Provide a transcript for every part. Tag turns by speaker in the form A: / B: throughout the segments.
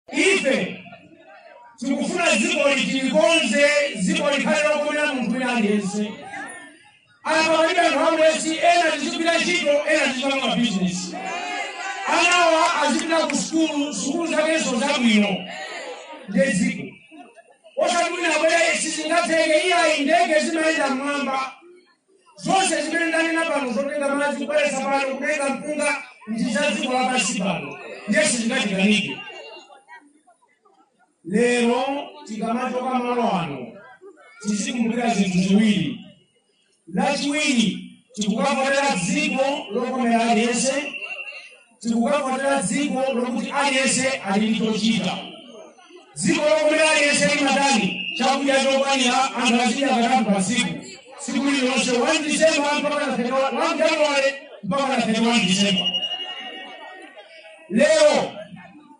A: Ife tikufuna dziko ili tilikonze dziko likhale lokomera munthu wina aliyense apa palibe anthu amulesi ena tizipita ntchito ena tizipanga mabizinesi anawa azipita ku sukulu sukulu zakenso zabwino nde dziko osati wina abwera sizingatheke iyayi ndege zimayenda mmwamba zonse zimene ndanena pano zotenga madzi kubweretsa pano kutenga mpunga ndi za dziko lapansi pano ndiye sizingatikanike lero tikamachoka malo ano tizikumbukira zinthu ziwiri lachiwiri tikukavotera dziko lokomera aliyense tikukavotera dziko lokuti aliyense ali ndi chochita dziko lokuti aliyense ali nachoni chakudya chokwanira anthu azidya katatu pa tsiku tsiku lililonse 1 disemba mpaka na 31 1 januwale mpaka na 31 disemba lero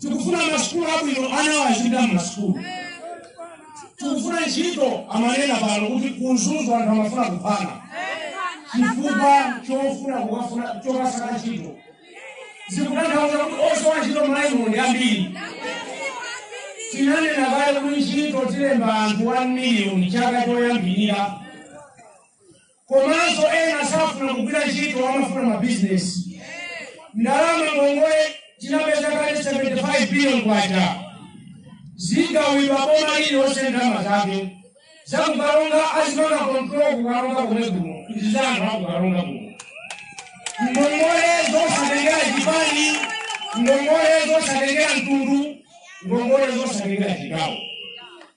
A: tikufuna masukulu abwino anawa azipita mmasukulu tikufuna ntchito amanena pano kuti ku Mzuzu anthu amafuna kuphana chifukwa chofuna kukafuna chokasaka ntchito zikutanthauza kuti osowa ntchito m'Malawi muno ndi ambiri tinanena kale kuti ntchito tilemba anthu 1 miliyoni chaka choyambirira komanso ena safuna kugwira ntchito amafuna mabizinesi ndalama ngongole tinapeza kale 75 billion kwacha zigawidwa boma lililonse ndalama zake za ku Karonga azipanga kontrol ku Karonga komwe kuno ndi za anthu a ku Karonga kuno ngongole zosatengera chipani ngongole zosatengera mtundu ngongole zosatengera chigawo